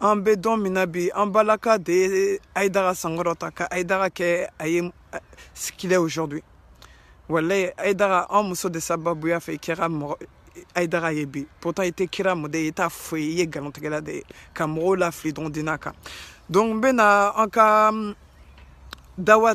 an bɛ don min na bi an baraka de ye ayidara sankɔrɔta ka ayidara kɛ a ye ce qu'il est aujourd'hui walayi ayidara an muso de sababuya fɛ i kɛra mɔgɔ ayidara ye bi pourtant i tɛ kira mɔden ye i t'a foyi i ye nkalontigɛla de ye ka mɔgɔw lafili dɔrɔn dina kan donc n bɛna an ka dawa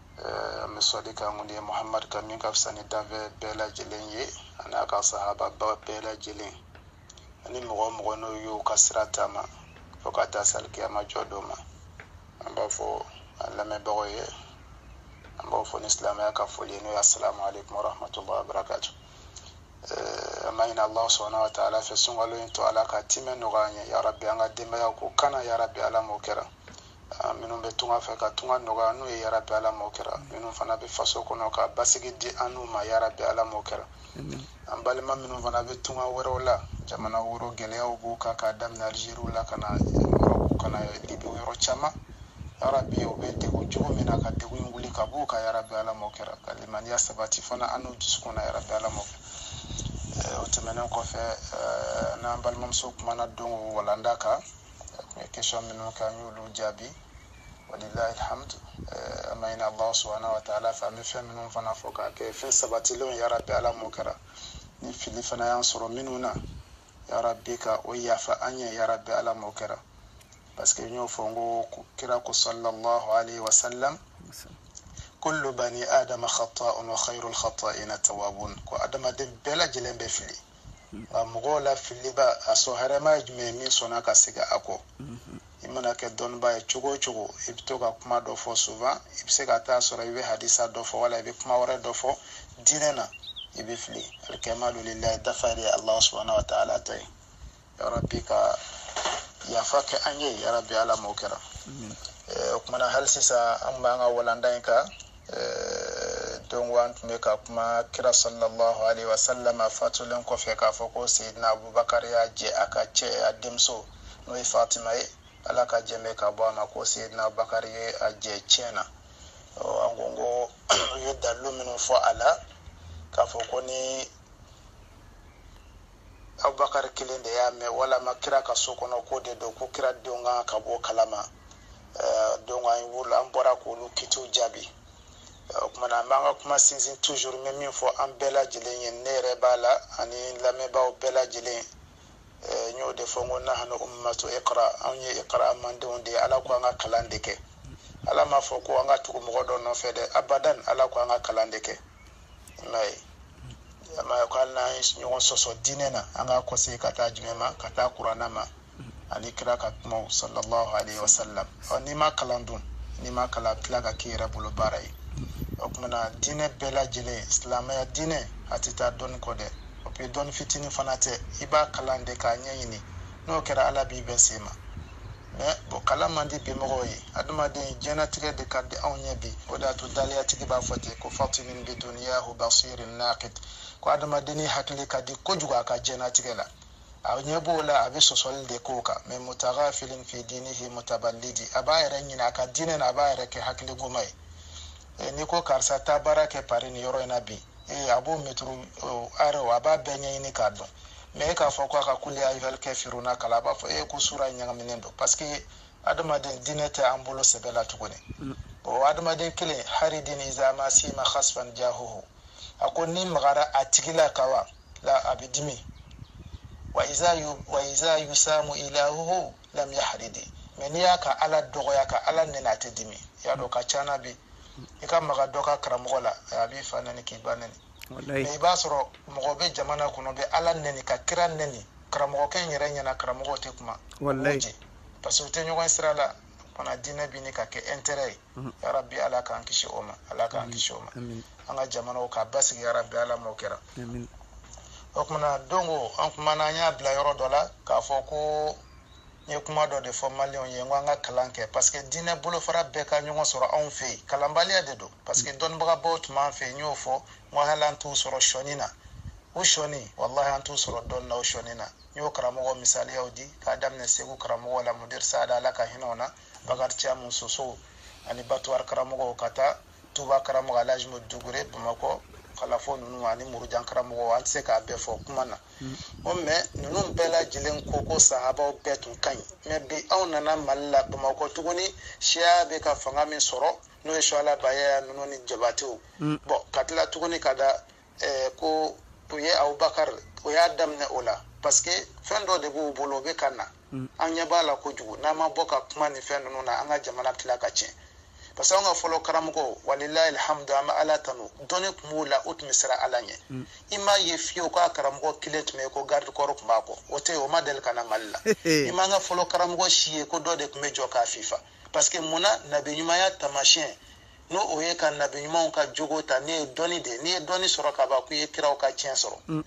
eh, an bɛ sɔli kɛ an kuntigi muhamadu kan min ka fisa ni danfɛn bɛɛ lajɛlen ye ani a ka sahaba bɛɛ lajɛlen ani mɔgɔ o mɔgɔ n'o y'o ka sira taama fo ka taa se alikiyama jɔ don ma an b'a fɔ a lamɛnbagaw ye an b'u fo ni silamɛya ka foli ye n'o ye asalamu aleykum warahmatullahi wabarakatu eh, an b'a ɲini allah subhana wa taala fɛ sunkalo in tɔ ala k'a timɛ nɔgɔya an ye yarabi an ka denbaya kɔkana yarabi ala m'o kɛra minnu bɛ tunga fɛ ka tunga nɔgɔya n'u ye yarabi ala m'o kɛra minnu fana bɛ faso kɔnɔ ka basigi di an n'u ma yarabi ala m'o kɛra an balima minnu fana bɛ tunga wɛrɛw la jamanaw rɔ gɛlɛyaw b'u kan ka daminɛ alizeriw la ka na yɔrɔw ka na libi yɔrɔ caman yarabi u bɛ degun cogo min na ka degun in wuli ka b'u kan yarabi ala m'o kɛra ka limaniya sabati fana an n'u dusukun na yarabi ala m'o kɛra o tɛmɛnen kɔfɛ n'an balimamuso kumana don walanda kan eh, question minnu kɛ an y'olu jaabi walilahi alhamdu eh, an b'a ɲini allahu subhanahu wa taala fɛ an bɛ fɛn minnu fana fɔ k'a kɛ fɛn sabatilenw yarabi ala m'o kɛra ni fili fana y'an sɔrɔ minnu na yarabi ka o yafa an ye yarabi ala m'o kɛra parce que n y'o fɔ n ko kira ko sallallahu alayhi wa sallam kullu bani adama khata'un wa khairul khata'ina tawabun ko adamaden bɛɛ lajɛlen bɛ fili wa mɔgɔw la filibaa sɔn hɛrɛma ye jumɛn ye min sɔnna ka segin a kɔ i mana kɛ dɔnnibaa ye cogo o cogo i bɛ to ka kuma dɔ fɔ souvent i bɛ se ka taa sɔrɔ i bɛ hadisa dɔ fɔ wala i bɛ kuma wɛrɛ dɔ fɔ diinɛ na i bɛ fili alkamalu lillahi dafa de ye alahu subahana wa taala ta ye yarabi ka yafa kɛ an ye yarabi ala m'o kɛra o kumana hali sisan an b'an ka walanda in kan don an tun bɛ ka kuma kira sallallahu alaihi wa sallam fatulen kɔfɛ k'a fɔ ko seyidina abubakar y'a jɛ a ka cɛn a denmuso n'o ye fatima ye ala ka jɛmɛ ka bɔ a ma ko seyidina abubakar ye a jɛ cɛn na an ko ko u ye dalilu minnu fɔ a la k'a fɔ ko ni abubakar kelen de y'a mɛn walama kira ka so kɔnɔ ko de don ko kira denw kan ka bɔ a kalama eh, donc an wolo an bɔra k'olu kitiw jaabi eh, o kumana an b'an ka kuma sinsin toujours n bɛ min fɔ an bɛɛ lajɛlen ye ne yɛrɛ b'a la ani lamɛnbaaw bɛɛ lajɛlen eh, n y'o de fɔ n ko nahnu ummatu iqra anw ye iqra manton de ye ala ko an ka kalan de kɛ ala m'a fɔ ko an ka tugu mɔgɔ dɔ nɔfɛ dɛ abadan ala ko an ka kalan de kɛ n'a ye a ma ko hali n'an ye ɲɔgɔn sɔsɔ diinɛ na an k'a kɔsegin ka taa jumɛn ma ka taa kuranɛ ma ani kira ka kumaw sallallahu alayhi wa sallam ɔ n'i ma kalan dun n'i ma kalan a bɛ tila ka k'i yɛrɛ bolo baara ye o kumana diinɛ bɛɛ lajɛlen silamɛya diinɛ a tɛ taa dɔnni kɔ dɛ o bɛ dɔnni fitinin fana tɛ i b'a kalan de k'a ɲɛɲini n'o kɛra ala b'i bɛɛ sen ma mɛ o kalan man di bimɔgɔw ye adamaden jɛnatigɛ de ka di anw ye bi o de y'a to daliyatigi b'a fɔ ten ko fatinin bi duniyahu basirin nakid ko adamadenni hakili ka di kojugu a ka jɛnatigɛ la a ɲɛ b'o la a bɛ sɔsɔli de k'o kan mɛ mutagafilin fi dinihi mutabalidi a b'a yɛrɛ ɲinɛ a ka diinɛ na a b'a yɛrɛ kɛ hakiligoma ye n'i ko karisa taa baara kɛ pari nin yɔrɔ in na bi ee a b'o métro arrêt a b'a bɛɛ ɲɛɲini k'a dɔn mɛ e k'a fɔ ko a ka kuli ya ayuhali kafiruna kalan a b'a fɔ i ye ko sura ɲagaminen don parce que adamaden diinɛ tɛ an bolo sɛbɛ la tuguni o adamaden kelen haridin iza ma sima hasfan jahuhu a ko n'i magara a tigi la kawa la a bɛ dimi wa iza yu wa iza yusamu ilahuhu lam yahridi mɛ n'i y'a ka ala dɔgɔya ka ala nɛni a tɛ dimi y'a dɔn ka cana bi i ka maga dɔ ka karamɔgɔ la a b'i fa nɛni k'i ba nɛni mɛ i b'a sɔrɔ mɔgɔ bɛ jamana kɔnɔ bɛ ala nɛni ka kira nɛni karamɔgɔkɛ in yɛrɛ ɲɛna karamɔgɔ tɛ kuma jɛ parce que u tɛ ɲɔgɔn sira la fana diinɛ bɛ ɲini ka kɛ intérêt ye mhm. yarabi ala k'an kisi o ma ala k'an kisi o ma an ka jamanaw ka basigi yarabi ala m'o kɛra o tumana donc an kumana an y'a bila yɔrɔ dɔ la k'a fɔ ko n ye kuma dɔ de fɔ maliyɛnw ye n ko an ka kalan kɛ parce que diinɛ bolofara bɛɛ ka ɲɔgɔn sɔrɔ anw fɛ yen kalanbaliya de don parce que dɔnnibagabaw tun b'an fɛ yen n y'o fɔ n ko hali an t'u sɔrɔ sɔnin na u sɔnin walahi an t'u sɔrɔ dɔnni na u sɔnin na n y'o karamɔgɔ misaliyaw di k'a daminɛ segu karamɔgɔw la mudiri sada ala ka hinɛ o na bakari camu sosow ani batuwari karamɔgɔw ka taa tuba karamɔgɔ alaji mo dukure bamakɔ kalapo ninnu ani murujan karamɔgɔ an tɛ se k'a bɛɛ fɔ kuma na o mɛ ninnu bɛɛ lajɛlen ko ko sahabaw bɛɛ tun ka ɲi mɛ bi anw nana mali la bamakɔ tuguni siya bɛ ka fanga min sɔrɔ n'o ye suala bayaya ninnu ni jabatew bɔn ka tila tuguni ka da ɛɛ ko u ye abubakar o y'a daminɛ o la parce que fɛn dɔ de b'u bolo o bɛ ka na mm. an ɲɛ b'a la kojugu n'an ma bɔ ka kuma ni fɛn ninnu na an ka jamana tila ka tiɲɛ parce que an ka fɔlɔ karamɔgɔ walilahi alhamdu an bɛ ala tanu dɔnni tun b'u la u tun bɛ siran ala ɲɛ mm. i m'a ye fewu ko karamɔgɔ kelen tun bɛ yen ko garidi kɔrɔ tun b'a kɔ o tɛ yen o ma deli ka na mali la i m'an ka fɔlɔ karamɔgɔ si ye ko dɔ de tun bɛ jɔ k'a fifa parce que mun na nabiɲumanya taamasiyɛn n'o ye ka nabi ɲumanw ka jogo ta ne ye dɔnni de n'i ye dɔnni sɔrɔ ka ban ko i ye kiraw ka tiɲɛ sɔrɔ mm.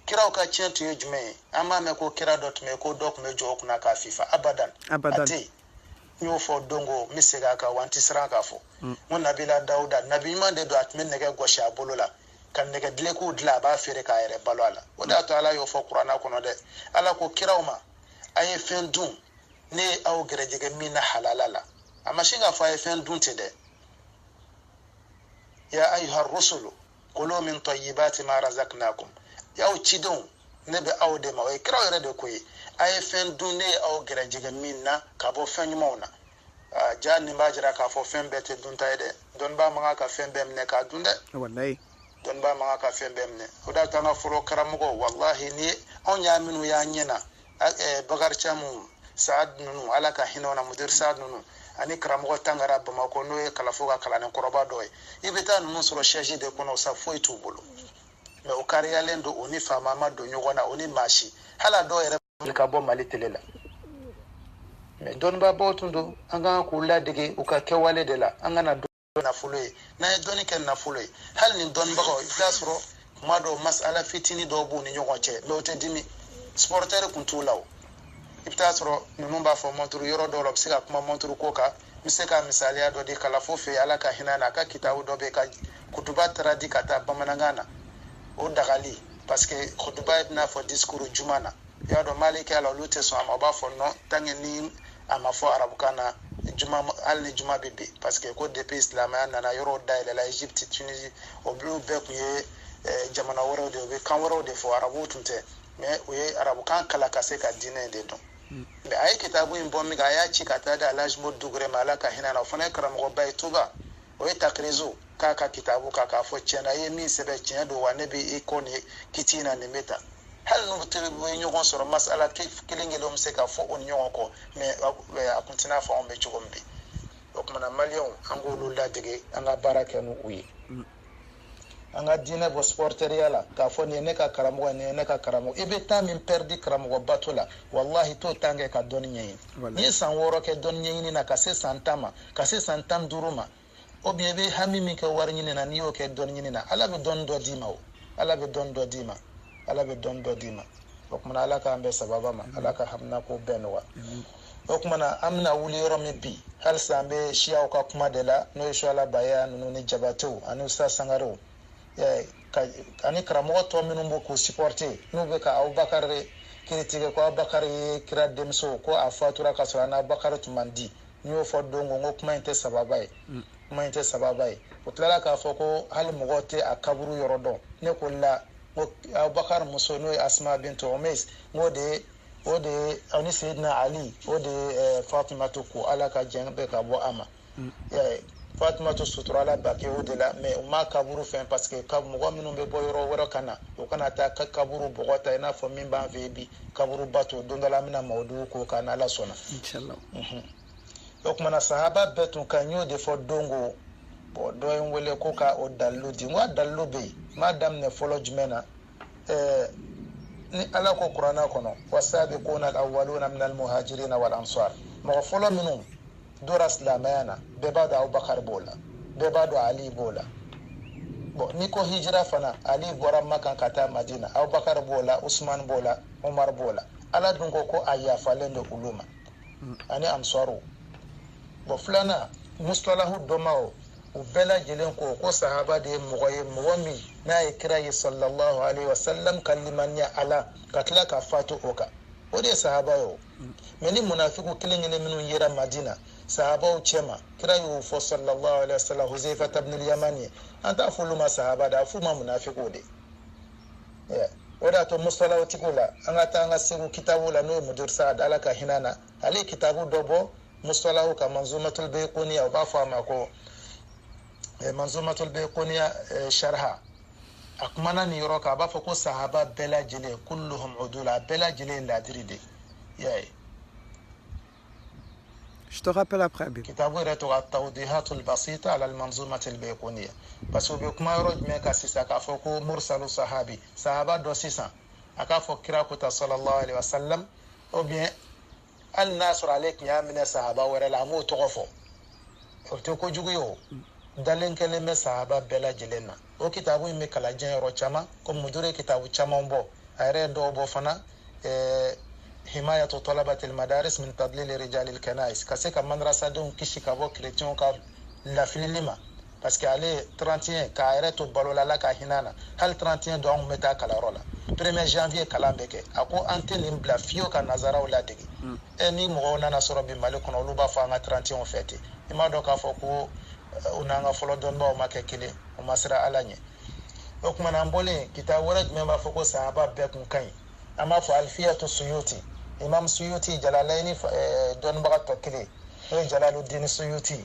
kiraw ka tiɲɛ tun ye jumɛn ye an b'a mɛn ko kira dɔ tun bɛ ko dɔ tun bɛ jɔ u kunna k'a fifa abadan a tɛ yen n y'o fɔ don ko n bɛ segin a kan wa n tɛ siran k'a fɔ mm. n ko nabila dawuda nabi ɲuman de don a tun bɛ nɛgɛ gosi a bolo la ka nɛgɛ dulokiw dilan a b'a feere k'a yɛrɛ balo a la o de y'a to ala y'o fɔ kuranna kɔnɔ dɛ ala ko kiraw ma a ye fɛn dun ne ye aw gɛrɛjɛgɛ min na halala la a ma sin k'a fɔ a ye fɛn dun ten dɛ ya ayuha rusulu kulu min tayibati ma razaknakum y'aw cidenw ne bɛ aw de ma o ye kiraw yɛrɛ de ko ye a ye fɛn dun ne ye aw gɛrɛjɛgɛ min na ka bɔ fɛn ɲumanw na ja nin b'a jira k'a fɔ fɛn bɛɛ tɛ dunta ye dɛ dɔnnibaa man kan ka fɛn bɛɛ minɛ k'a dun dɛ dɔnnibaa man kan ka fɛn bɛɛ minɛ o de y'a to an ka fɔlɔ karamɔgɔw walahi ni anw ye minnu y'an ɲɛ na bakari camu saad ninnu ala ka hinɛ na mudir saad ninnu ani karamɔgɔ tangara bamakɔ n'o ye kalafo ka kalanden kɔrɔba dɔ ye i bɛ taa ninnu sɔrɔ sɛji de kɔnɔ sa foyi t'u bolo mɛ u kariyalen don u ni faama ma don ɲɔgɔn na u ni maa si hali a dɔw yɛrɛ ka bɔ mali tele la mɛ dɔnnibaabaw tun don an kan k'u ladege u ka kɛwale de la an kana nafolo ye n'an ye dɔnni kɛ nafolo ye hali nin dɔnnibagaw i bɛ t'a sɔrɔ kuma dɔw masala fitini dɔw b'u ni ɲɔgɔn cɛ mɛ u tɛ dimi sipɔrɔtɛri kun t'u la o i bɛ t'a sɔrɔ ninnu b'a fɔ mɔnturu yɔrɔ dɔw la u bɛ se ka kuma mɔnturu ko kan n bɛ se ka misaliya dɔ di kalafo fɛ ala ka hinɛ na a ka kitabu dɔ bɛ yen ka kutuba traduire ka taa bamanankan na o dagali parce que kutuba ye i n'a fɔ disikuru juma na i y'a dɔn malikila olu tɛ sɔn a ma u b'a fɔ non tant que ni a ma fɔ arabukan na juma hali ni juma bɛ bin parce que ko depuis silamɛya nana yɔrɔw dayɛlɛla egypte tunisie olu bɛɛ tun ye eh, jamana wɛrɛw de ye u bɛ kan wɛrɛw de fɔ arabuw tun tɛ mais u ye arabukan kalan ka se ka diinɛ de dɔn mais a ye kitabu in bɔ min kɛ a y'a ci ka taa di alaji mo dukure ma ala ka hinɛ na o fana ye karamɔgɔba ye tuba o ye takirizo k'a ka kitabu kan k'a fɔ tiɲɛna i ye min sɛbɛn tiɲɛ don wa ne bɛ i kɔ nin kiti in na nin bɛ ta hali n'u tun bɛ ɲɔgɔn sɔrɔ masala kelen kelen bɛ se ka fɔ u ni ɲɔgɔn kɔ mɛ a kun tɛ i n'a fɔ anw bɛ cogo min bi o tumana maliyɛnw an k'olu ladege an ka baara kɛ n'u ye mm. an ka diinɛ bɔ sipɔriteriya la k'a fɔ nin ye ne ka karamɔgɔ nin ye ne ka karamɔgɔ i bɛ tan min pɛridi karamɔgɔ bato la walahi t'o tan kɛ ka dɔnni ɲɛɲini n'i ye san wɔɔrɔ kɛ dɔnni ɲɛɲini na ka se san tan ma ka se san tan duuru ma o bi i bɛ hami min kɛ wari ɲini na n'i y'o kɛ dɔnni ɲini na ala bɛ dɔnni dɔ d'i ma o ala bɛ dɔnni dɔ d'i ma ala bɛ dɔnni dɔ d'i ma o kumana ala k'an bɛɛ sababa ma ala ka haminako bɛɛ nɔgɔya o kumana an bɛna wuli yɔrɔ min bi halisa an bɛ siyaw ka kuma de la n'o ye suwala baya ninnu ni jabatew ani usa sangarew ani karamɔgɔ tɔ minnu b'o k'u supporte n'u bɛ ka abubakari kiritike ko abubakari ye kira denmuso ko a fatura ka sɔrɔ a n'abakari tun man di n y'o fɔ don ko n ko kuma in tɛ sababa ye kuma in tɛ sababa ye o tilala k'a fɔ ko hali mɔgɔ tɛ a kaburu yɔrɔ dɔn ne ko la ko abubakar muso n'o ye asma bintu umays n k'o de ye o de ye ani seyidina ali o de ye fatumatu ko ala ka jɛn bɛɛ ka bɔ a ma fatumatu suturala baki'u de la mɛ u ma kaburu fɛn paseke ka mɔgɔ minnu bɛ bɔ yɔrɔ wɛrɛ ka na u kana taa ka kaburu bɔgɔ ta i n'a fɔ min b'an fɛ bi kaburu bato don dɔ la an bɛna mawudugu k'o kan n'ala sɔnna o kuma na sahaba bɛɛ tun ka ɲi n y'o de fɔ dongo bɔn dɔ ye n wele ko ka o dalilu di n ko a dalilu bɛ yen n b'a daminɛ fɔlɔ jumɛn na eh, ni ala ko kurana kɔnɔ wasabiquna alawaluna min almuhajirina walansar mɔgɔ fɔlɔ minnu dora silamɛya na bɛɛ b'a dɔn abubakar b'o la bɛɛ b'a dɔn ali b'o la bɔn n'i ko hijira fana ali bɔra makan ka taa madina abubakar b'o la usman b'o la umar b'o la ala dun ko ko a yafalen don olu ma ani ansaruw bɔn filanan musitalahu dɔnbaaw u bɛɛ lajɛlen ko ko sahaba de ye mɔgɔ ye mɔgɔ min n'a ye kira ye sallallahu alaihi wasallam ka limaniya a la ka tila ka fatu o kan o de ye sahaba ye o mɛ ni munafiku kelen kelen minnu yera madina sahabaw cɛma kira y'o fɔ sallallahu alaihi wasallam huzaifata bnul yamani ye an t'a fɔ olu ma sahaba dɛ a f'u ma munafiku de o de y'a to musitalahu tigiw la an ka taa an ka seku kitabu la n'o ye mudiru saad ala ka hinɛ na ale ye kitabu dɔ bɔ musitalahu kan manzumatul bayquniya u b'a fɔ a ma ko eh, manzumatul bayquniya eh, sharha a kumana nin yɔrɔ kan a b'a fɔ ko sahaba bɛɛ lajɛlen kulluhum udula a bɛɛ lajɛlen ye ladiri de ye i y'a ye Je te rappelle après, Abib. Kitabu yɛrɛ tɔgɔ Tawdihatul Basita ala al-Manzumatil Bayquniya. Parce que u bɛ kuma yɔrɔ jumɛn kan sisan k'a fɔ ko mursalu sahabi, sahaba dɔ sisan, a k'a fɔ kira ko tan sallallahu alaihi wa sallam, ou bien hali n'a sɔrɔ ale tun y'a minɛ sahaba wɛrɛ la a m'o tɔgɔ fɔ o tɛ kojugu ye o dalen kɛlen bɛ sahaba bɛɛ lajɛlen na o kitabu in bɛ kalan diɲɛ yɔrɔ caman komi mudiru ye kitabu caman bɔ a yɛrɛ ye dɔw bɔ fana ɛɛ himayatu talabatil madaris min tadlil rijalil kanais ka se ka mandarasadenw kisi ka bɔ kerecɛnw ka lafilili ma parce que ale 31 k'a yɛrɛ to balo la ala ka hinɛ na hali 31 don an tun bɛ taa kalanyɔrɔ la premier janvier kalan bɛ kɛ a ko an tɛ nin bila fiyewu ka nazaraw ladege mm. e nin mɔgɔw nana sɔrɔ bi mali kɔnɔ olu b'a fɔ an ka 31 fêter i m'a dɔn k'a fɔ ko eh, u n'an ka fɔlɔ dɔnnibaw ma kɛ kelen u ma sira ala ɲɛ o tuma na an bɔlen kitabu wɛrɛ jumɛn b'a fɔ ko sahaba bɛɛ kun ka ɲi an b'a fɔ alfiyatu suyuti imam suyuti jalalayini eh, dɔnnibaga tɔ kelen n'o ye jalalu dini suyuti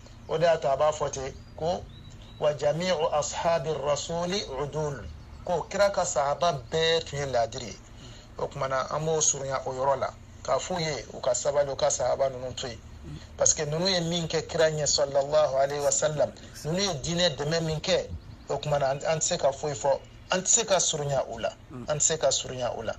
o d'a to a b'a fɔ ten ko wa jamiu ashabi rasuli udul kó kira ka sahaba bɛɛ tun ye laadiri ye o tuma na an b'o surunya o yɔrɔ la k'a f'u ye u ka sabali u ka sahaba ninnu to yen parce que ninnu ye min kɛ kira ɲɛ sallallahu alayhi wa sallam ninnu ye diinɛ dɛmɛ min kɛ o tuma na an tɛ se ka foyi fɔ an tɛ se ka surunya u la an tɛ se ka surunya u la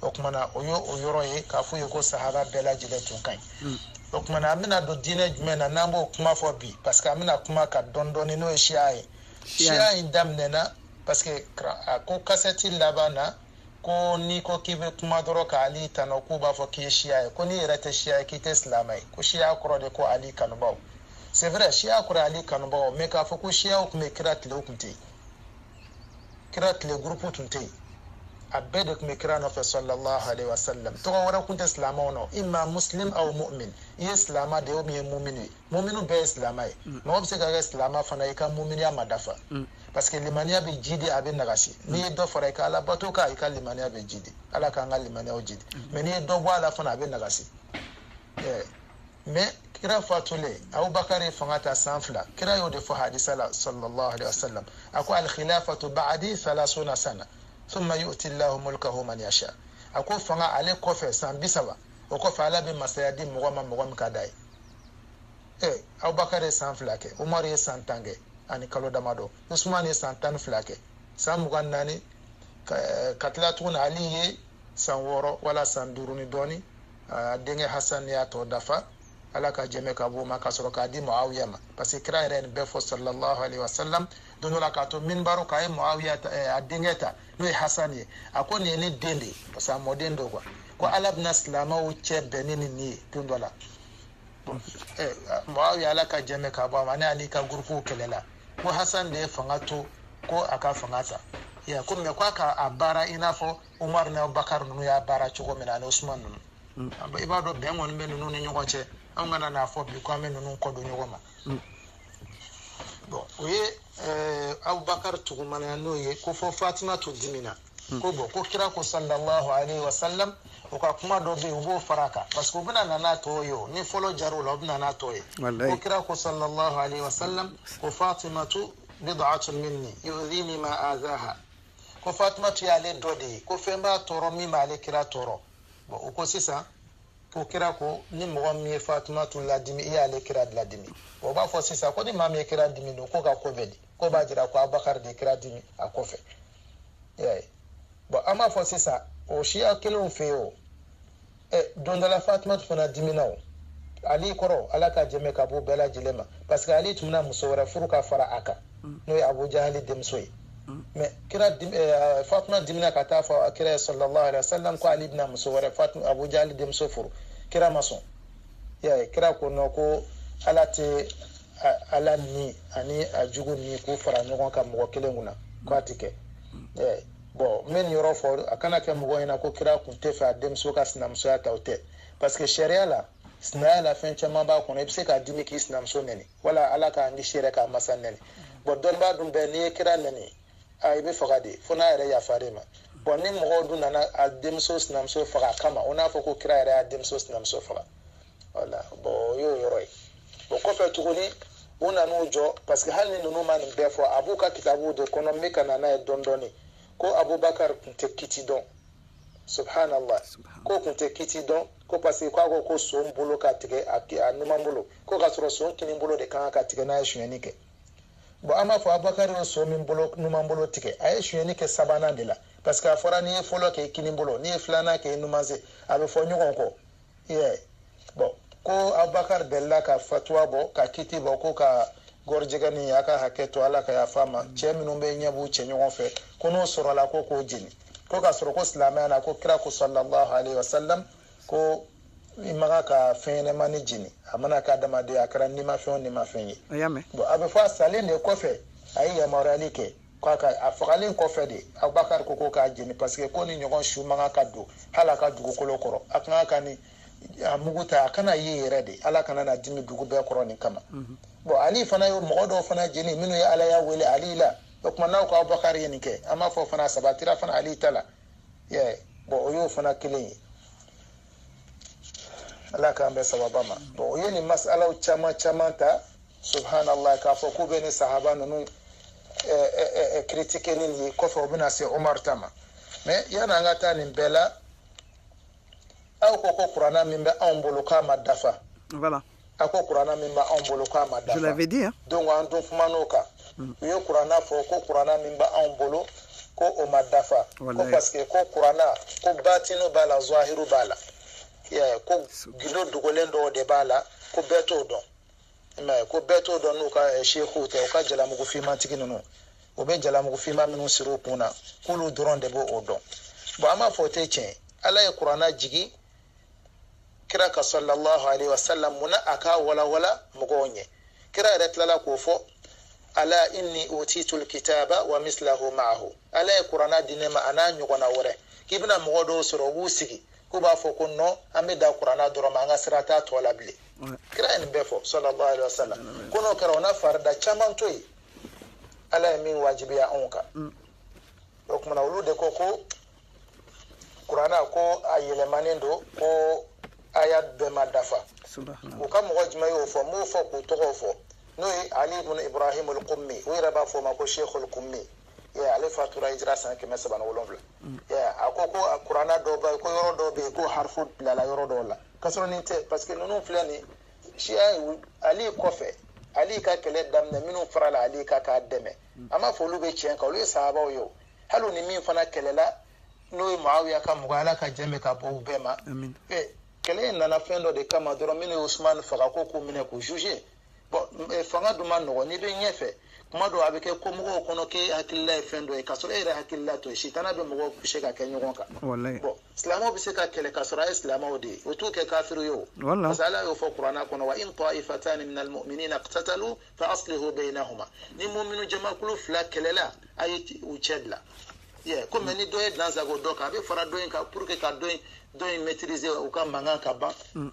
o tumana o ye o yɔrɔ ye k'a f'u ye ko sahaba bɛɛ lajɛlen tun ka ɲi hmm. o tumana an bɛna don diinɛ jumɛn na n'an b'o kuma fɔ bi parce que an bɛna kuma ka dɔn dɔɔni n'o ye siya ye siya in daminɛna parce que a ko kasɛti laban na ko n'i ko k'i bɛ kuma dɔrɔn ka ali tanu k'u b'a fɔ k'i ye siya ye ko n'i yɛrɛ tɛ siya ye k'i tɛ silamɛ ye ko siya kɔrɔ de ko ali kanubaw c'est vrai siya kɔrɔ ali kanubaw mais k'a fɔ ko siyaw tun bɛ kira tile o tun tɛ yen kira tile gurupu tun tɛ yen a bɛɛ de tun bɛ kira nɔfɛ sallallahu alaihi wa sallam tɔgɔ wɛrɛ tun tɛ silamɛw nɔ imma muslim aw mu'min i ye silamɛ de ye o min ye mumini ye muminu bɛɛ ye silamɛ ye mm. mɔgɔ bɛ se ka kɛ silamɛ fana i ka muminiya ma dafa mm. parce que limaniya bɛ jidi a bɛ nagasi mm. n'i ye dɔ fara i ka ala bato kan i ka limaniya bɛ jidi ala k'an ka limaniyaw jidi mais n'i ye dɔ bɔ a la fana a bɛ nagasi mais kira fatulen abubakar ye fanga ta san fila kira y'o de fɔ hadisi la sallallahu alaihi wasallam a ko alkhilafatu ba'di thalathuna sana thumma yu'ti llahu mulkahu man yasha a ko fanga ale kɔfɛ san bi saba o kɔfɛ ala bɛ masaya di mɔgɔ ma mɔgɔ min ka d'a ye ee abubakar ye san fila kɛ umar ye san tan kɛ ani kalo damadɔ usman ye san tan ni fila kɛ san mugan ni naani ka tila tuguni ali ye san wɔɔrɔ wala san duuru ni dɔɔni a denkɛ hasan y'a tɔ dafa ala ka jɛmɛ ka b'o ma ka sɔrɔ k'a di muawiya ma parce que kira yɛrɛ nin bɛɛ fɔ sallallahu alaihi wasallam don dɔ la k'a to minbari kan a ye muawiya eh, a denkɛ ta n'o ye hasan ye a ko nin ye ne den de ye parce que a mɔden don quoi ko ala bɛna silamɛw cɛ bɛn ni nin ye don dɔ la eh, muawiya ala ka jɛmɛ ka bɔ a ma ni ali ka gurupuw kɛlɛla ko hasan de ye fanga to ko a ka fanga ta ya ko mais ko a ka a baara i n'a fɔ Umaru n'Abubakari ninnu y'a baara cogo min na ani Usumani ninnu mm. i b'a dɔn bɛn kɔni bɛ ninnu ni ɲɔgɔn cɛ anw kana n'a fɔ bi ko an bɛ ninnu kɔ don ɲɔgɔn ma mm. bon o ye eh, Abubakari tugumanaya n'o ye k'a fɔ Fatimatu dimina mm. ko bon ko kira ko sallallahu alayhi wa sallam u ka kuma dɔ bɛ yen u b'o fara a kan parce que u bɛna na n'a tɔ ye o nin fɔlɔ jira o la u bɛna n'a tɔ ye ko kira ko sallallahu alayhi wa sallam ko Fatimatu bid'atun minni yudhini ma adhaha ko fatimatu y'ale dɔ de ye ko fɛn b'a tɔɔrɔ min b'ale kira tɔɔrɔ bon u ko sisan ko kira ko ni mɔgɔ min ye fatimatu ladimi i y'ale kira ladimi u b'a fɔ sisan ko ni maa min ye kira dimi don k'o ka ko bɛ di k'o b'a jira ko abakari de kira dimi a kɔfɛ bon an b'a fɔ sisan o siya kelenw fɛ yen o don dɔ la fatumatu fana dimina o ali kɔrɔ ala ka jɛmɛ ka bɔ bɛɛ lajɛlen ma parce que ali tun bɛna muso wɛrɛ furu ka fara a kan mm. n'o ye abu jahali denmuso ye mm. mɛ kira eh, fatuma dimina ka taa fɔ kira ye sallallahu alaihi wasallam ko ali bɛna muso wɛrɛ fatuma abu jahali denmuso furu kira ma sɔn y'a ye kira ko non ko ala tɛ ala ni ani a jugu ni k'u fara ɲɔgɔn kan mɔgɔ kelen kunna k'a tɛ kɛ mm. bɔn n bɛ nin yɔrɔ fɔ a kana kɛ mɔgɔ ɲɛna ko kira kun tɛ fɛ a denmuso ka sinamusoya ta o tɛ parce que sariya la sinaya la fɛn caman b'a kɔnɔ i bɛ se ka dimi k'i sinamuso nɛni wala ala k'an kisi yɛrɛ k'a masa nɛni bɔn dɔnnibaa dun bɛɛ n'i ye kira nɛni a i bɛ faga de fo n'a yɛrɛ yafar'i ma bɔn ni mɔgɔw dun nana a denmuso sinamuso faga a kama u n'a fɔ ko kira yɛrɛ y'a denmuso sinamuso faga wala bɔn o y'o yɔrɔ ye o kɔfɛ tuguni u nan'u jɔ parce que hali ni ninnu ma nin bɛɛ fɔ a b'u ka kitabuw de kɔnɔ n bɛ ka na n'a ye dɔɔni dɔɔni ko abubakar tun tɛ kiti dɔn subhanallah k'o tun tɛ kiti dɔn ko parce que k'a ko ko son bolo ka tigɛ a a numan bolo ko k'a sɔrɔ son kinin bolo de kan ka tigɛ n'a ye sonyɛni kɛ bon an b'a fɔ abubakar ye son min bolo numan bolo tigɛ a ye sonyɛni kɛ sabanan de la parce que a fɔra n'i ye fɔlɔ kɛ i kinin bolo n'i ye filanan kɛ i numan sen a bɛ fɔ ɲɔgɔn kɔ bɔn ko abubakari delila ka fatuwa bɔ ka kiti bɔ ko ka gɔrijɛgɛni y'a ka hakɛ to ala ka yafa an ma cɛ minnu bɛ ɲɛ b'u cɛ ɲɔgɔn fɛ ko n'o sɔrɔla ko k'o jeni ko k'a sɔrɔ ko silamɛya na ko kira ko sallallahu alayhi wa sallam ko i man kan ka fɛn ɲɛnamani jeni a mana k'adamaden a kɛra nimafɛn o nimafɛn ye bɔn a bɛ fɔ a salen de kɔfɛ a ye yamaruyali kɛ k'a ka a fagalen kɔfɛ de abubakari ko ko k'a jeni paseke ko nin ɲɔgɔn su man kan ka don hali ala ka dugukolo kɔrɔ a kan ka ni a mugu ta a kana ye yɛrɛ de ala kana na dimi dugu bɛɛ kɔrɔ nin kama bɔn ali fana ye mɔgɔ dɔw fana jeni minnu ye alaya wele ali la o tuma n'aw ko abubakari ye nin kɛ an b'a fɔ fana sabatira fana ali ta la yɛ bɔn o y'o fana kelen ye ala k'an bɛn sawaba ma bɔn o ye nin masalaw caman caman ta subhanallah k'a fɔ k'u bɛ nin sahaba ninnu critiquer nin ye kɔfɛ u bɛna se umar ta ma mais yanni an ka taa nin bɛɛ la aw ko ko kuranna min bɛ anw bolo k'a ma dafa voilà a ko kuranna min bɛ anw bolo k'a ma dafa je l'avais dit hein donc an dun kuman'o kan mm. u ye kuranna fɔ ko kuranna min bɛ anw bolo ko o ma dafa ko parce que ko kuranna ko batinu b'a la zahiru b'a la ko gindo dogolen dɔw de b'a la ko bɛɛ t'o dɔn i m'a ye ko bɛɛ t'o dɔn n'u ka sekuw tɛ u ka jalamugu finmantigi ninnu u bɛ jalamugu finman minnu siri u kun na k'olu dɔrɔn de b'o o dɔn bɔn an b'a fɔ o tɛ tiɲɛ ala ye kuranna jigi kira kan sallallahu alaihi wa sallam mun na a k'a walawala mɔgɔw ɲɛ kira yɛrɛ tilala k'o fɔ ala inni utitul kitaba wa mislahu ma'ahu ala ye kuranna di ne ma a n'a ɲɔgɔnna wɛrɛ k'i bɛna mɔgɔ dɔw sɔrɔ u b'u sigi k'u b'a fɔ ko nɔ an bɛ dan kuranna dɔrɔn ma an ka sira t'a tɔ la bilen kira ye nin bɛɛ fɔ sallallahu alaihi wasallam ko n'o kɛra o na farida caman to yen ala ye min wajibiya anw kan mm. o kuma na olu de ko ko kurana ko a yɛlɛmanen don ko aya bɛɛ ma dafa u ka mɔgɔ jumɛn y'o fɔ m'o fɔ k'u tɔgɔw fɔ n'o ye ali ibn ibrahim al-qummi u yɛrɛ b'a fɔ o ma ko sheikh al-qummi Yeah, ale fatura hijira san kɛmɛ saba ni wolonwula mm. yeah, a ko ko a kurana dɔ bɛ ko yɔrɔ dɔ bɛ yen ko harifu bilala yɔrɔ dɔw la k'a sɔrɔ nin tɛ parce que ninnu filɛ nin siya ali kɔfɛ ali ka kɛlɛ daminɛ minnu farala ali kan k'a dɛmɛ mm. an b'a fɔ olu bɛ tiɲɛ kan olu ye sahabaw ye o ali ni min fana kɛlɛla n'o ye maawiya ka mɔgɔ ala ka jɛn ka bɔ u bɛɛ ma kɛlɛ in nana fɛn dɔ de kama dɔrɔn minnu ye usumani faga ko k'u minɛ k'u juger Eh, fanga dun man nɔgɔ n'i bɛ ɲɛfɛ kuma dɔw a bɛ kɛ kɔmɔgɔw kɔnɔ k'e hakilila ye fɛn dɔ ye k'a sɔrɔ e yɛrɛ hakilila t'o ye sitana bɛ mɔgɔw puse ka kɛ ɲɔgɔn kan bɔn silamɛw bɛ se ka kɛlɛ k'a sɔrɔ a ye silamɛw de ye o t'u kɛ kafiri ye o parce que ala y'o fɔ kuranna kɔnɔ wa in ta'ifatani minal mu'minina iqtatalu fa aslihu bainahuma ni mu'minu jamakulu fila kɛlɛla a ye u cɛ dila yɛ ko mɛ ni dɔ ye dansagon dɔ kan a bɛ fara dɔ in kan pour que ka dɔ in dɔ in maîtriser u ka mankan ka ban mm.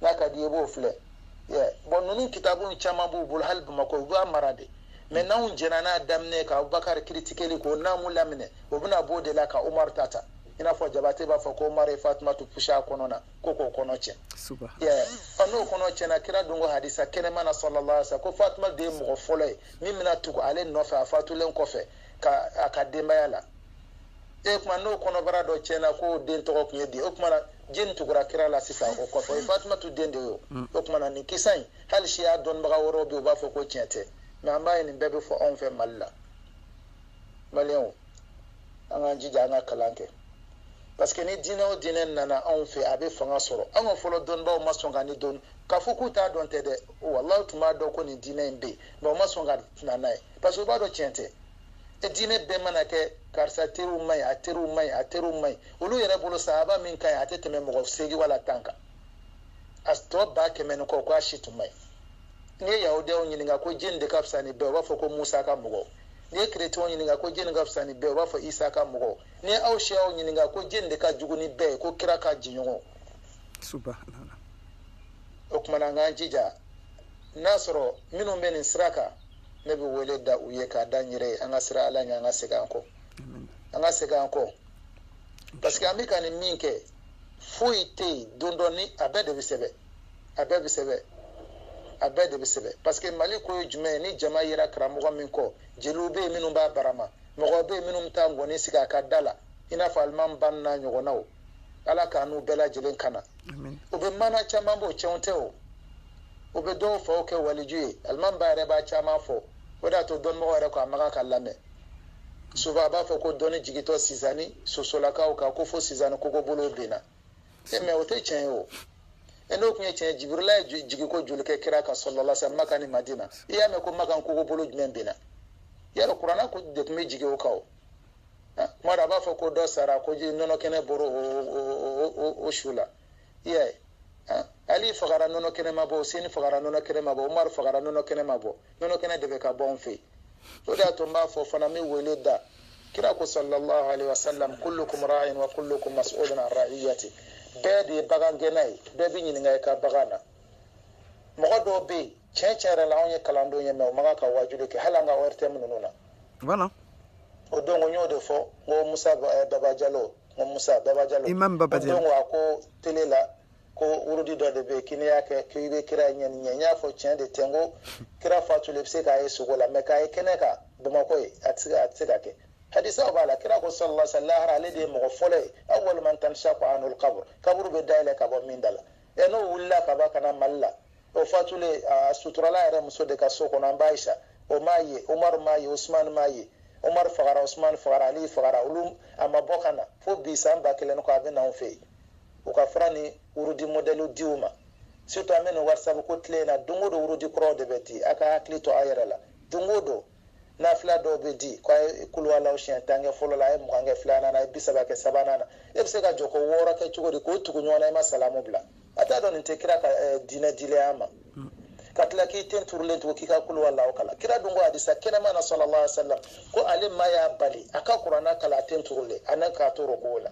n'a ka d'i ye i b'o filɛ bɔn ninnu kitabu caman b'u bolo hali bamakɔ u b'a mara de mɛ n'anw jɛnna n'a daminɛ ka abubakar kiritikeli kɛ n'an m'u laminɛ o bɛna b'o de la ka umaru ta ta i n'a fɔ jabate b'a fɔ ko umaru ye fatumatu puse a kɔnɔ na ko k'o kɔnɔ cɛn ɔ n'o kɔnɔ cɛnna kira dun ko hadisa kɛnɛman na sallallahu alaihi wa sallam ko fatuma de ye mɔgɔ fɔlɔ ye min bɛna tugu ale nɔfɛ a fatulen kɔfɛ a ka denbaya la e kuma n'o kɔnɔbara dɔ tiɲɛna ko den tɔgɔ tun ye di o kuma na jɔni tugura kira la sisan o kɔfɛ o fatumatu den de ye o mm. o kuma na nin kisa in hali siya dɔnnibaga wɛrɛw bɛ u b'a fɔ ko tiɲɛ tɛ nka an b'a ye nin bɛɛ bɛ fɔ anw fɛ mali la maliyɛnw an k'an jija an ka kalan kɛ parce que ni diinɛ o diinɛ nana anw fɛ a bɛ fanga sɔrɔ an ka fɔlɔ dɔnnibaw ma sɔn ka nin don k'a fɔ k'u t'a dɔn tɛ dɛ walayi u tun b'a dɔn ko nin diinɛ in bɛ yen nka u ma sɔn ka na n'a ye parce que u b'a dɔn tiɲɛ tɛ e diinɛ bɛɛ mana kɛ karisa teriw man ɲi a teriw man ɲi a teriw man ɲi olu yɛrɛ bolo sahaba min ka ɲi a tɛ tɛmɛ mɔgɔ seegin wala tan kan a tɔ ba kɛmɛ ni kɔ ko a si tun man ɲi n'i ye yahudiyaw ɲininka ko jɔni de ka fisa ni bɛɛ u b'a fɔ ko musa ka mɔgɔw n'i ye kerecɛnw ɲininka ko jɔni ka fisa ni bɛɛ u b'a fɔ isa ka mɔgɔw n'i ye shiyaw ɲininka ko jɔni de ka jugu ni bɛɛ ye ko kira ka jɛɲɔgɔnw o kumana an k'an jija n'a sɔrɔ minnu bɛ nin sira kan ne bɛ wele da u ye k'a da n yɛrɛ ye an ka siran ala ɲɛ an ka segin an kɔ an ka segin an kɔ parce que an bɛ ka nin min kɛ foyi tɛ yen don dɔ ni a bɛɛ de bɛ sɛbɛn a bɛɛ bɛ sɛbɛn a bɛɛ de bɛ sɛbɛn parce que mali ko ye jumɛn ye ni jama yera karamɔgɔ min kɔ jeliw bɛ yen minnu b'a barama mɔgɔ bɛ yen minnu bɛ taa ngɔni sigi a ka da la i n'a fɔ alimami ba n'a ɲɔgɔnnaw ala k'an n'u bɛɛ lajɛlen kana u bɛ maana caman bɔ tiɲɛ tɛ o u bɛ dɔw faw kɛ waliju ye alimami ba yɛrɛ b'a caman fɔ o de y'a to dɔnnibagaw yɛrɛ ko a man kan ka lamɛn sabu a b'a fɔ ko dɔnni jigintɔ sizani sosolakaw kan ko fo sizani kogobolow benna e mɛ o tɛ tiɲɛ ye o e n'o tun ye tiɲɛ jibirila ye jiginko joli kɛ kira kan sallallahu alaihi wasallam maka ni madina i y'a mɛn ko maka kogobolo jumɛn benna yala kurana de tun bɛ jigin o kan o tuma dɔ a b'a fɔ ko dɔ sara ko ji nɔnɔ kɛnɛ bɔra o su la i y'a ye ali fagara nɔnɔ kɛnɛ ma bɔ huseni fagara nɔnɔ kɛnɛ ma bɔ umaru fagara nɔnɔ kɛnɛ ma bɔ nɔnɔ kɛnɛ de bɛ ka bɔ anw fɛ yen o de y'a to n b'a fɔ fana n bɛ wele da kira ko sallallahu alaihi wasallam kullukum ra'in wa kullukum mas'ulun an ra'iyati bɛɛ de ye bagan gɛnna ye bɛɛ bɛ ɲininka i ka bagan na mɔgɔ dɔw bɛ yen tiɲɛ tiɲɛ yɛrɛ la anw ye kalandenw ye mɛ u man kan ka waajuli kɛ hali an ka ortm ninnu na voilà o don ko n y'o de fɔ n ko musa eh, baba jalo n ko musa baba jalo Imam Baba Diallo. o don ko a ko tele la ko wurudi dɔ de bɛ yen ko n'i y'a kɛ k'i bɛ kira ɲɛ ni ɲɛ n y'a fɔ tiɲɛ de tɛ n ko kira fatulen i bɛ se k'a ye sugo la mɛ k'a ye kɛnɛ kan bamakɔ yan a tɛ se ka- a tɛ se ka kɛ hadisaw b'a la kira ko sallallahu alaihi wa sallam lahara ale de ye mɔgɔ fɔlɔ ye awwalu man tanshaqqu anhul kaburu kaburu bɛ dayɛlɛ ka bɔ min da la ɛ n'o wulila ka bɔ ka na mali la o fatulen a suturala a yɛrɛ muso de ka so kɔnɔ an ba ayisa o m'a ye umaru m'a ye usumani m'a ye umaru fagara usumani fagara ali fagara olu a ma bɔ ka na fo bi san ba kelen kɔ a bɛ na anw fɛ yen u ka fura ni wurudi mɔdɛliw di u ma surtout an bɛ nin whatsapp ko tile in na don o don wurudi kuraw de bɛ di a k'a hakili to a yɛrɛ la don o don nafila dɔw bɛ di ko a ye kuluwalaw siɲɛ tan kɛ fɔlɔ la a ye mugan kɛ filanan na a ye bi saba kɛ sabanan na e bɛ se ka jɔko wɔɔrɔ kɛ cogo di k'o tugu ɲɔgɔn na i ma salamu bila a t'a dɔn nin tɛ kira ka eh, diinɛ dilen y'an ma ka tila k'i ten turulen to k'i ka kuluwalaw kalan kira dun ko hadisa kɛnɛman na sallallahu alaihi wasallam ko ale ma y'a bali a ka kurana kalan a ten turulen an'a k'a to ruku la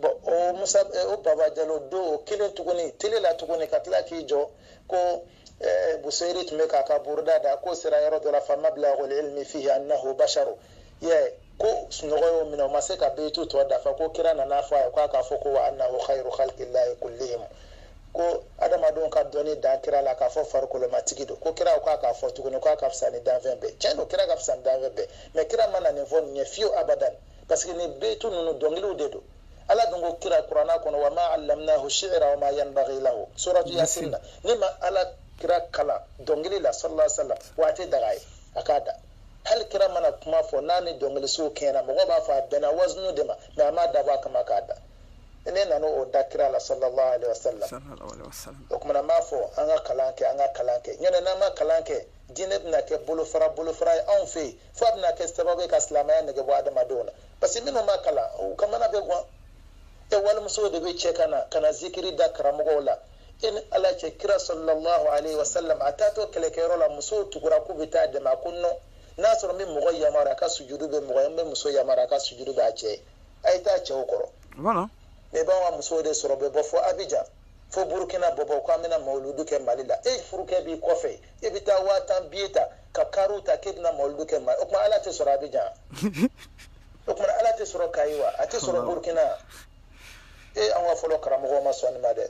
bɔn o musa eh, o baba jalo don o kelen tuguni tele la tuguni ka tila k'i jɔ ko eh, buseyiri tun bɛ k'a ka buruda da k'o sera yɔrɔ dɔ la fa mablaghul ilmi fihi annahu basharu yɛ ko sunɔgɔ y'o minɛ o ma se ka beyitu tɔ dafa ko kira nana fɔ a ye k'a k'a fɔ ko wa annahu khayru khalqillahi kullihim ko adamadenw ka dɔnni dan kira la k'a fɔ farikolomatigi don ko kira k'a k'a fɔ tuguni k'a ka fisa ni danfɛn bɛɛ tiɲɛ don kira ka fisa ni danfɛn bɛɛ mɛ kira ma na nin fɔ nin ye fiyewu abadan parce que nin beyitu ninnu dɔnkiliw de don ala dun ko kira kurana kɔnɔ wa ma allamnahu shi'ra wa ma yanbaghi lahu suratu yasin na ne ma ala kira kalan dɔnkili la sallallahu alaihi wasallam wa a tɛ daga a ye a k'a da hali kira mana kuma fɔ n'a ni dɔnkilisiw kɛɲɛna mɔgɔ b'a fɔ a bɛnna wazunu de ma mɛ a m'a dabɔ a kama k'a da ne nana o da kira la sallallahu alaihi wasallam sallallahu alaihi wasallam o kuma m'a fɔ an ka kalan kɛ an ka kalan kɛ nɔntɛ n'an ma kalan kɛ diinɛ bɛna kɛ bolofara bolofara ye anw fɛ yen fo a bɛna kɛ sababu ye ka silamɛya nege bɔ adamadenw na parce que minnu ma kalan u ka mana bɛ guwan e walimuso de bɛ cɛ ka na ka na zikiri da karamɔgɔw la e ni ala cɛ kira sallallahu alaihi wasallam a taatɔ kɛlɛkɛyɔrɔ la musow tugura k'u bɛ taa a dɛmɛ a ko non n'a sɔrɔ n bɛ mɔgɔ yamaruya a ka sujudu kɛ mɔgɔ ye n bɛ muso yamaruya a ka sujudu kɛ a cɛ ye a ye taa cɛw kɔrɔ voilà ne b'an ka musow de sɔrɔ u bɛ bɔ fo abijan fo burukina bɔbɔ k'an bɛna mawuludu kɛ mali la e furukɛ b'i kɔfɛ i bɛ taa waa tan biye ta ka kariw ta k'e bɛna mawuludu kɛ mali o tuma ala tɛ sɔrɔ abijan o tuma ala tɛ sɔrɔ kayi wa a tɛ sɔrɔ burukina e an ka fɔlɔ karamɔgɔw ma sɔn nin ma dɛ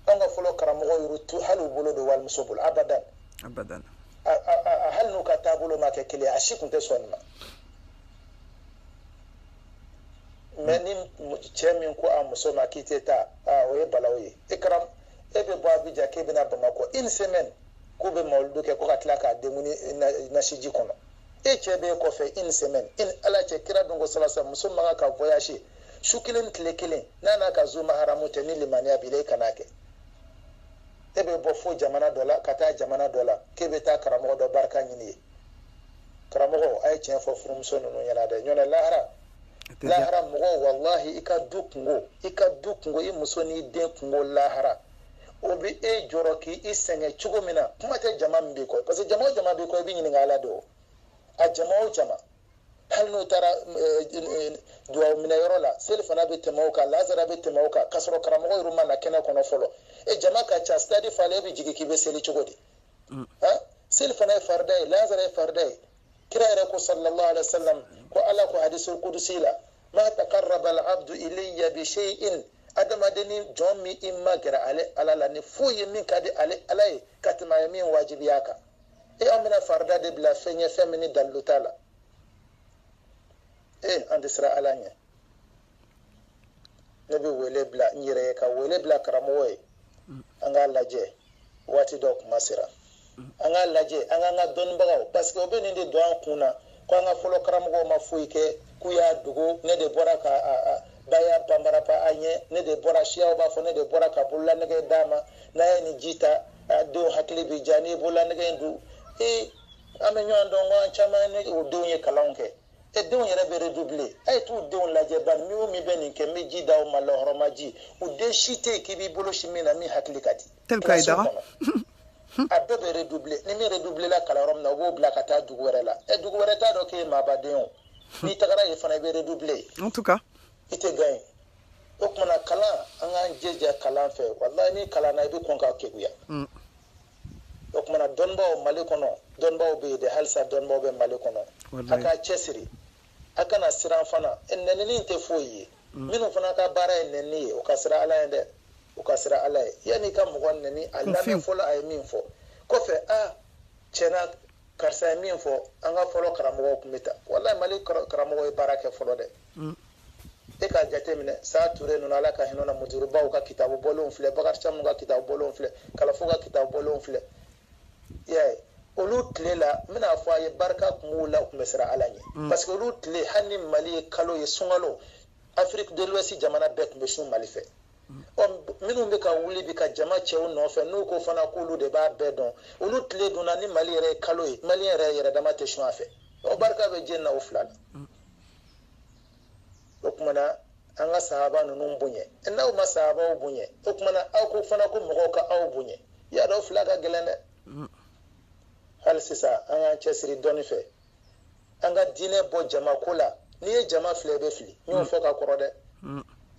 an ka fɔlɔ karamɔgɔw tun tɛ hali u bolo don walimuso bolo abadan abadan a- a- a- hali n'u ka taabolo ma kɛ kelen ye, a si tun tɛ sɔn nin ma mɛ ni cɛ min ko a muso ma k'i tɛ taa aa o ye balawu ye e kɛra e bɛ bɔ abijan k'e bɛna bamakɔ une semaine k'u bɛ mawuludu kɛ ko ka tila ka denkundi nasiji kɔnɔ e cɛ bɛ e kɔfɛ une semaine e ni ala cɛ kira dun ko salasa muso man kan ka voyage su kelen tile kelen n'a n'a ka zu mahramu tɛ ni limaniya b'i la e kana kɛ e bɛ bɔ fo jamana dɔ la ka taa jamana dɔ la k'e bɛ taa karamɔgɔ dɔ barika ɲini yen karamɔgɔw a ye tiɲɛ fɔ furumuso ninnu ɲɛna dɛ nɔntɛ lahara lahara mɔgɔ walahi i ka du kunko i ka du kunko i muso n'i den kunko lahara o bɛ e jɔrɔ k'i i sɛgɛn cogo min na kuma tɛ jama min b'i kɔ parce que jama o jama b'i kɔ i bɛ ɲininka a la dɛ o a jama o jama hali n'u taara eh, eh, eh, dugawu minɛ yɔrɔ la selifana bɛ tɛmɛ o kan lansara bɛ tɛmɛ o kan k'a sɔrɔ karamɔgɔ yɛrɛ ma na kɛnɛ kɔnɔ fɔlɔ e jama ka ca sitadi falen e bɛ jigin k'i bɛ seli cogo di mm. seli fana ye farida ye lazara ye farida ye kira yɛrɛ ko sallallahu alaihi wasallam ko ala ko hadisul qudusi la ma taqarraba al abdu ilayya bi shay'in adamadenni jɔn m'i magɛrɛ ale ala la ni foyi ye min ka di ale ala ye ka tɛmɛ a ye min wajibiya a kan e an bɛna farida de bila fɛn ye fɛn min ni dalilu t'a la e an tɛ siran ala ɲɛ ne bɛ wele bila n yɛrɛ ye ka wele bila karamɔgɔ ye an k'a lajɛ waati dɔ kuma sera an k'a lajɛ an k'an ka dɔnnibagaw parce que o bɛ nin de don an kun na ko an ka fɔlɔ karamɔgɔw ma foyi kɛ k'u y'a dogo ne de bɔra ka baya panparapa an ɲɛ ne de bɔra siyaw b'a fɔ ne de bɔra ka bololanɛgɛ d'a ma n'a ye nin ji ta denw hakili bɛ diya n'i ye bololanɛgɛ in don ee an bɛ ɲɔgɔn dɔn ko an caman ni o denw ye kalan kɛ e denw yɛrɛ bɛ redouble a ye t'u denw lajɛ bani min o min bɛ nin kɛ n bɛ ji d'aw ma lɔhɔrɔma ji u den si tɛ yen k'i b'i bolo sin min na min hakili ka di Tel ka i Kilasi daga. kɔnɔ. a bɛɛ bɛ redouble ni min redouble la kalan yɔrɔ min na u b'o bila ka taa dugu wɛrɛ la ɛ dugu wɛrɛ t'a dɔn k'e ye maaba den o n'i tagara yen fana i bɛ redouble en tout cas i tɛ gagner o kuma na kalan an k'an jija kalan fɛ walayi n'i kalanna i bɛ kɔn ka keguya mm. o kuma na dɔnnibaw mali kɔnɔ dɔnnibaw bɛ yen dɛ halisa dɔnnibaw bɛ mali kɔnɔ a k'a cɛsiri a kana siran fana e, nɛnini tɛ foyi ye mm. minnu fana ka baara ye nɛnini ye u ka siran ala ye dɛ u ka siran ala ye yanni i ka mɔgɔ nɛni a lamɛn fɔlɔ a ye min fɔ kɔfɛ a tiɲɛna karisa ye min fɔ an ka fɔlɔ karamɔgɔw tun bɛ ta walayi mali karamɔgɔw ye baara kɛ fɔlɔ dɛ mm. e k'a jateminɛ saa ture ninnu ala ka hinɛ u la muturubaw ka kitabu bɔlenw filɛ bakari camu ka kitabu bɔlenw filɛ kalafo ka kitabu bɔlenw filɛ y'a ye olu tile la n bɛna a fɔ a ye barika tun b'u la u tun bɛ siran ala ɲɛ mm. parce que olu tile hali ni mali ye kalo ye sunkalo afiriki de l'ouest jamana bɛɛ tun bɛ sun mali fɛ ɔ minnu bɛ ka wuli bi ka jama cɛ u nɔfɛ n'u ko fana k'olu de b'a bɛɛ dɔn olu tile donna ni mali yɛrɛ ye kalo ye mali yɛrɛ yɛrɛ dama tɛ sun a fɛ o barika bɛ jɛni na o fila la o kuma na an ka sahaba ninnu bonya n'aw ma sahabaw bonya o kuma na aw ko fana ko mɔgɔw ka aw bonya y'a dɔn fila ka gɛlɛn dɛ hali sisan an k'an cɛsiri dɔnni fɛ an ka diinɛ bɔ jama ko la n'i ye jama filɛ i bɛ fili n y'o fɔ ka kɔrɔ dɛ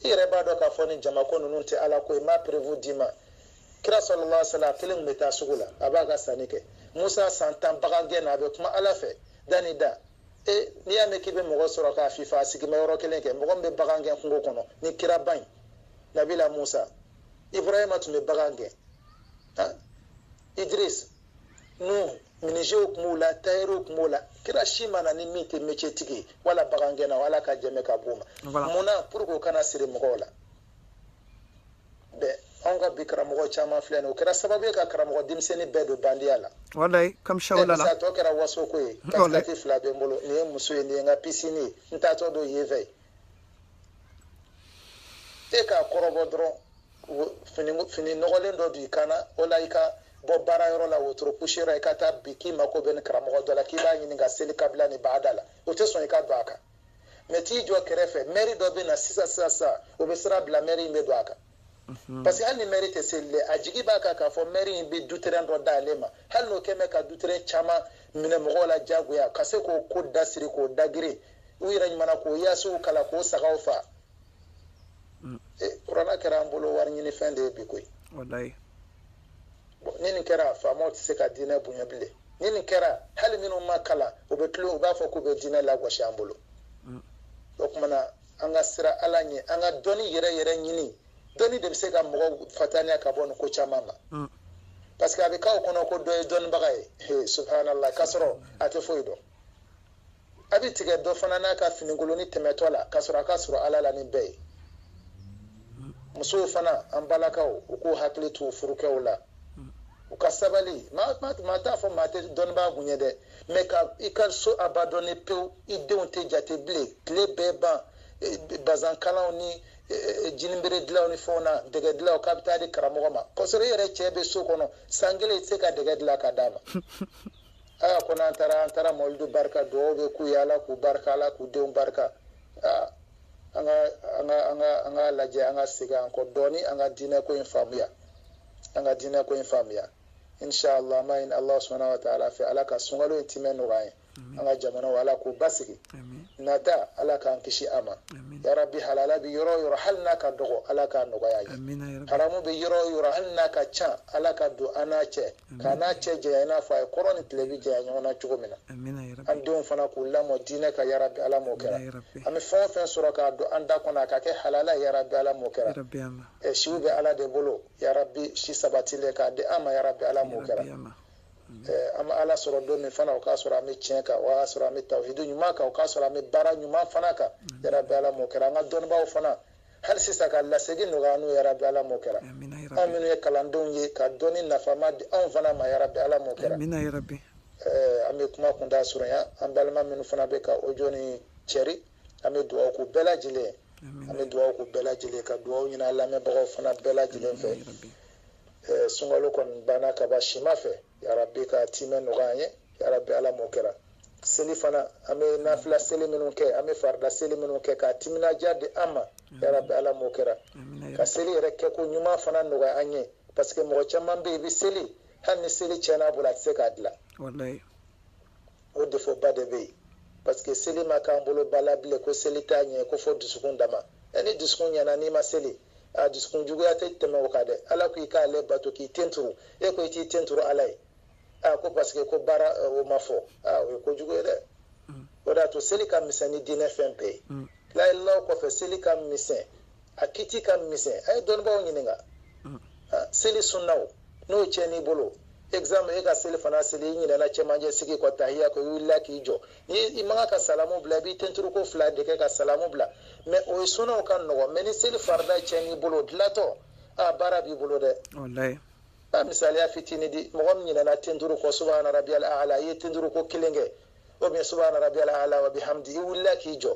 i yɛrɛ b'a dɔn k'a fɔ nin jama ko ninnu tɛ ala ko ye n b'a preuve d'i ma kira sallallahu alaihi wasallam a kelen tun bɛ taa sugu la a b'a ka sanni kɛ musa san tan bagan gɛn na a bɛ kuma ala fɛ da ni da e n'i y'a mɛn k'i bɛ mɔgɔ sɔrɔ k'a fifa a sigilen bɛ yɔrɔ kelen kɛ mɔgɔ min bɛ bagan gɛn kungo kɔnɔ nin kiraba in nabila musa ibrahima tun bɛ bagan gɛn idris minizew tun b'o la tayɛriw tun b'o la kira si ma na ni min tɛ mecetigi ye wala bagangɛnna ala ka jɛmɛ ka b'o ma mun na pour que o kana siri mɔgɔw la bɛɛ anw ka bi karamɔgɔ caman filɛ nin o kɛra sababu ye ka karamɔgɔ denmisɛnnin bɛɛ don bandiya la walayi kamisa la tɔ kɛra waso ko ye katikati fila bɛ n bolo nin ye muso ye nin ye n ka pisini ye n taatɔ don yen fɛ e k'a kɔrɔbɔ dɔrɔn fini fini nɔgɔlen dɔ don i kan na o la i ka bɔ baara yɔrɔ la wotoro pusiyɔrɔ i ka taa bi k'i mako bɛ nin karamɔgɔ dɔ la k'i b'a ɲini ka seli kabila ni baada la o tɛ sɔn i ka don a kan mɛ t'i jɔ kɛrɛfɛ mɛri dɔ bɛ na sisan sisan sisan o bɛ sira bila mɛri in bɛ don a kan mhm. parce que hali ni mɛri tɛ seli dɛ a jigi b'a kan k'a fɔ mɛri in bɛ duterɛn dɔ d'ale ma hali n'o kɛ mɛ ka duterɛn caman minɛ mɔgɔw la diyagoya ka se k'o ko dasiri k'o dagiri u yɛrɛ ɲuman na k'o yaasinw kalan k'o sagaw fa Mm. E, kuranɛ kɛra an bolo wariɲinifɛn de ye bi koyi walayi bon ni nin kɛra faamaw tɛ se ka diinɛ bonya bilen ni nin kɛra hali minnu ma kalan u bɛ tila u b'a fɔ k'u bɛ diinɛ lagosi an bolo mm. o kuma na an ka sira ala ɲɛ an ka dɔnni yɛrɛ yɛrɛ ɲini dɔnni de bɛ se ka mɔgɔw fataniya ka bɔ nin ko caman ma mm. parce que a bɛ k'aw kɔnɔ ko dɔ ye dɔnnibaga ye subhanallah k'a sɔrɔ a tɛ foyi dɔn a bɛ tigɛ dɔ fana n'a ka finikoloni tɛmɛtɔ la k'a sɔrɔ a ka surun ala la ni bɛɛ ye musow fana an balakaw u k'u hakili to u furukɛw la u ka sabali maa t'a fɔ maa tɛ dɔnnibaa kun ye dɛ mɛ ka i ka so abandɔni pewu i denw tɛ jate bilen tile bɛɛ ban e, bazankalaw ni e, e, jinibere dilanw ni fɛnw na dɛgɛ dilanw k'a bɛ taa di karamɔgɔ ma k'a sɔrɔ i yɛrɛ cɛ bɛ so kɔnɔ san kelen i tɛ se ka dɛgɛ dilan ka d'a ma aa ko n'an taara an taara mawulidu barika dugawu bɛ k'u ye ala k'u barika ala k'u denw barika aa an ka an ka an ka an k'a lajɛ an ka segin an kɔ dɔɔni an ka diinɛ ko in faamuya an ka diinɛ ko in faamuya inshallah an b'a ɲini ala subhanahu wa taala fɛ ala ka sunkalo in timɛ nɔgɔya an ye an ka jamanaw ala k'u basigi nata ala k'an kisi a ma yarabi halala bɛ yɔrɔ o yɔrɔ hali n'a ka dɔgɔ ala k'a nɔgɔya an ye haramu bɛ yɔrɔ o yɔrɔ hali n'a ka ca ala ka don an n'a cɛ k'an n'a cɛ janya i n'a fɔ a ye kɔrɔn ni tilebin janya ɲɔgɔn na cogo min na an denw fana k'u lamɔ diinɛ kan yarabi ala m'o kɛra an bɛ fɛn o fɛn sɔrɔ k'a don an da kɔnɔ a ka kɛ halala yarabi ala m'o kɛra ɛ siw bɛ ala de bolo yarabi si sabatilen k'a di an ma yarabi ala m'o kɛra an bɛ ala sɔrɔ don min fana o k'a sɔrɔ an bɛ tiɲɛ kan o k'a sɔrɔ an bɛ tawhidu ɲuman kan o k'a sɔrɔ an bɛ baara ɲuman fana kan yarabi ala m'o kɛra an ka dɔnnibaaw fana hali sisan ka lasegi nɔgɔya n'o yarabi ala m'o kɛra an minnu ye kalandenw ye ka dɔnni nafama di anw fana ma yarabi ala m'o kɛra an bɛ kuma kuntaa surunya an balima minnu fana bɛ ka ojo nin cɛri an bɛ dugawu k'u bɛɛ lajɛlen ye an bɛ dugawu k'u bɛɛ lajɛlen ka dugawu ɲini an lamɛnbagaw fana bɛɛ lajɛlen fɛ sunkalo kɔni banna ka ban sima fɛ yarabi ka tiimɛ nɔgɔya an ye yarabi ala m'o kɛra seli fana an bɛ nafila seli minnu kɛ an bɛ farida seli minnu kɛ k'a timinandiya di an ma yarabi ala m'o kɛra ka seli yɛrɛ kɛko ɲuman fana nɔgɔya an ye parce que mɔgɔ caman bɛ yen i bɛ seli hali ni seli tiɲɛna a bolo a tɛ se k'a dilan o defoba de bɛ yen parce que seli ma k'an bolo ba la bilen ko seli t'a ɲɛ ko fo dusukun dama ɛ ni dusukun ɲɛna n'i ma seli a dusukun juguya tɛ tɛmɛ o kan dɛ ala ko i k'ale bato k'i ten turu e ko i t'i ten turu ala ye a ko parce que ko baara o ma fɔ a o ye kojugu ye dɛ o de y'a to seli ka misɛn ni diinɛ fɛn bɛɛ ye layila kɔfɛ seli ka misɛn a kiti ka misɛn a ye dɔnnibaaw ɲininka seli sunnaw n'o cɛnn'i bolo exemple e ka selifana seli i ɲinɛna cɛmancɛ sigi kɔ tahiya kɔ i wulila k'i jɔ ni i man ka salamu bila i b'i tenturuko fila de kɛ ka salamu bila mɛ o ye sunnaw ka nɔgɔ mɛ ni seli farida cɛnn'i bolo dilantɔ a baara b'i bolo dɛ a misaliya fitini di mɔgɔ min ɲinɛna tenturu kɔ subahana rabiyal ala i ye tenturu ko kelen kɛ o bɛ subahana rabiyal ala wa bihamdi i wulila k'i jɔ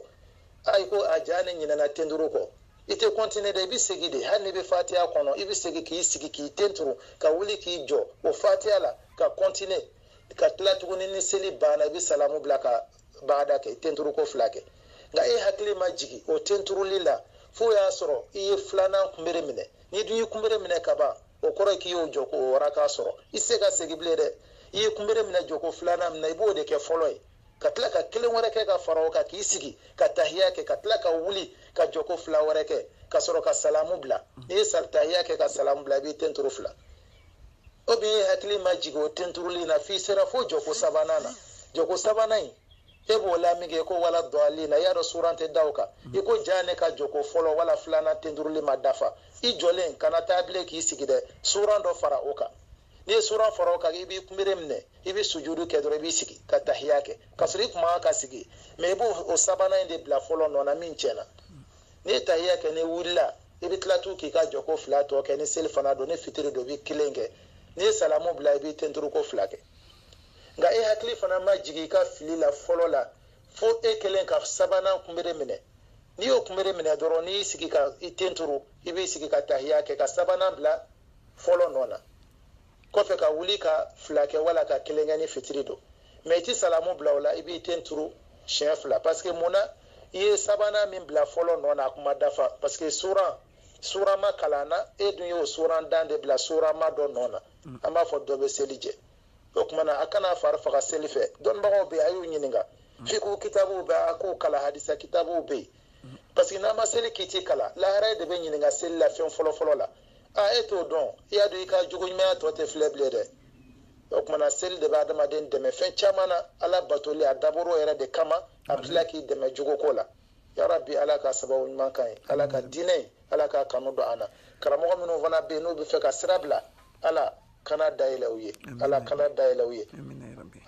a i ko a jaa ne ɲinɛna tenturu kɔ i tɛ kɔntine dɛ i bɛ segin de hali n'i bɛ fatiya kɔnɔ i bɛ segin k'i sigi k'i ten turu ka wuli k'i jɔ o fatiya la ka kɔntine ka tila tuguni ni seli banna i bɛ salamu bila ka baada kɛ tenturu ko fila kɛ nka e hakili ma jigin o tenturuli la f'o y'a sɔrɔ i ye filanan kunbere minɛ n'i dun y'i kunbere minɛ ka ban o kɔrɔ ye k'i y'o jɔko o raka sɔrɔ i tɛ se ka segin bilen dɛ i ye kunbere minɛ jɔko filanan min na i b'o de kɛ fɔlɔ ye ka tila ka kelen wɛrɛ kɛ ka fara o kan k'i sigi ka tahiya kɛ ka tila ka wuli ka jɔko fila wɛrɛ kɛ ka sɔrɔ ka salamu bila n'i ye tahiya kɛ ka salamu bila i b'i ten turu fila ou bien e hakili ma jigin o tenturuli na f'i sera fo jɔko sabanan na jɔko sabanan in e b'o la minkɛ ko waladɔɔlina i y'a dɔn suran tɛ da o kan mm. i ko jaa ne ka jɔko fɔlɔ wala filanan tenturuli ma dafa i jɔlen kana taa bilen k'i sigi dɛ suran dɔ fara o kan n'i ye suran fara o kan i b'i kunbere minɛ i bɛ sujudu kɛ dɔrɔn i b'i sigi ka tahiya kɛ k'a sɔrɔ i tun man ka sigi mɛ i b'o o sabanan in de bila fɔlɔ nɔ na min tiɲɛna n'i ye tahiya kɛ n'i wulila i bɛ tila tun k'i ka jɔko fila tɔ kɛ ni selifana don ni fitiri don i bɛ kelen kɛ n'i ye salamu bila i b'i ten turu ko fila kɛ nka e hakili fana ma jigin i ka fili la fɔlɔ la fo e kɛlen ka sabanan kunbere minɛ n'i y'o kunbere minɛ dɔrɔn n'i y'i sigi ka i ten turu i b'i sigi ka tahiya kɛ ka sabanan bila fɔlɔ nɔ na kɔfɛ ka wuli ka fila kɛ wala ka kelen kɛ ni fitiri don mɛ i ti salamu bila o la i b'i ten turu siɲɛ fila paseke mun na i ye sabanan min bila fɔlɔ nɔ na a ko ma dafa paseke suran suran ma kalan a na e dun y'o surantan de bila suranma dɔ nɔ na mm. an b'a fɔ dɔ bɛ seli jɛ o tuma na a kana fari faga seli fɛ dɔnnibagaw bɛ yen a y'u ɲininka mm. fiku kitabuw bɛ a k'o kalan hadisa kitabuw bɛ yen mm. parce que n'an ma seli kiti kalan lahara de bɛ ɲininka seli la fɛn fɔlɔfɔlɔ la a e t'o dɔn i y'a dɔn i ka jogo ɲumanya tɔ tɛ filɛ bilen dɛ o tumana seli de bɛ adamaden dɛmɛ fɛn caman na ala batoli a dabɔr'o yɛrɛ de kama a bɛ tila k'i dɛmɛ jogo ko la yarabi ala ka sababu ɲuman k'an ye ala ka diinɛ ala k'a kanu don an na karamɔgɔ minnu fana bɛ yen n'u b'a fɛ ka sira bila ala kana dayɛlɛ u ye ala kana dayɛlɛ u ye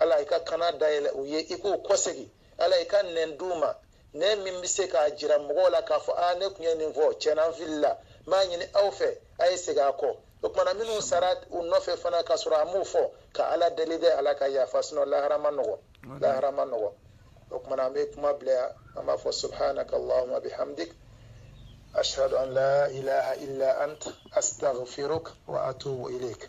ala i ka kana dayɛlɛ u ye i k'u kɔsegin ala i ka nɛn d'u ma nɛn min bɛ se k'a jira mɔgɔw la k'a fɔ aa ne tun ye nin fɔ tiɲɛna n filila n b'a ɲini aw fɛ a ye segin a kɔ o tumana minnu sara u nɔfɛ fana k'a sɔrɔ an m'o fɔ ka ala deli dɛ ala ka yafa sinɔ lahara man nɔgɔ lahara man nɔgɔ o tumana an bɛ kuma bila yan an b'a fɔ subhanaka allahumma bihamdik ashhadu an la ilaha illa ant astaghfiruk wa atubu ilayk